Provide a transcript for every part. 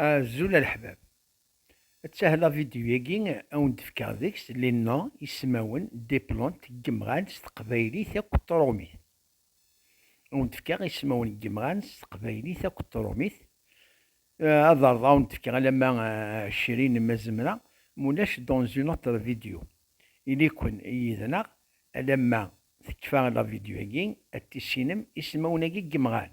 Azul a leḥbab. Ttah la vidéo-agi a wen-d-fkeɣ deg-s les noms, ismawen, des plantes, n yemɣan s teqbaylit akked trumit. A wen-d-fkeɣ ismawen n yemɣan s teqbaylit akked trumit. Ad ɛerḍeɣ a wen-d-fkeɣ alamma ɛecrin ma zemreɣ, ma ulac dans une autre vidéo. Ili-ken yid-neɣ alamma tekfa la vidéo-agi ad tissinem ismawen-agi n yemɣan.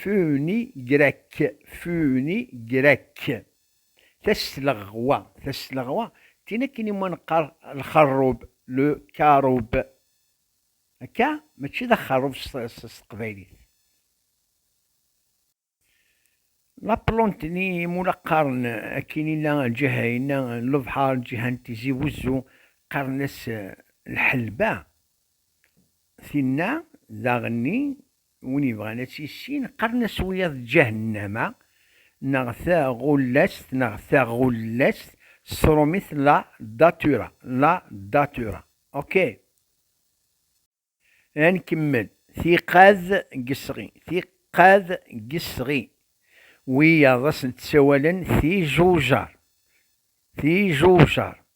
Funi grec, Funi grec. Tasleɣwa, Tasleɣwa, tin akken iwumi neqqar lxerrub, le caroube. Akka? Mačči d axerrub s teqbaylit. La Plonte-nni imula qqaren akin inna lǧiha inna n lebḥer, lǧiha n Tizi Wezzu, qqaren-as lḥelba. Tinna daɣenni Win yebɣan ad tt-yissin, qqaren-as wiyaḍ Ǧahennama, neɣ Taɣullast, neɣ Taɣullest, s tṛumit La Datura, La Datura. Ok. Ad nkemmel. Tiqad gesɣi, Tiqad gesɣi. Wiyaḍ ad sent-ssawalen Tijujar, Tijujar.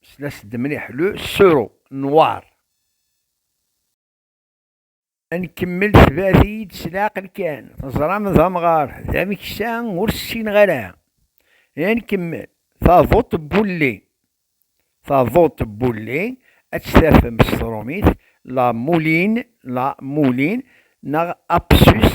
Slas-d mliḥ, le sero noir. Ad nkemmel tebɛet-iyi-d s leɛqel kan, teẓram d amɣar, d ameksa ur ssineɣ ara. Ad nkemmel, taduṭ n wulli. Taduṭ n wulli ad tt-tafem s trumit, la mouline, la moulin, neɣ apsus,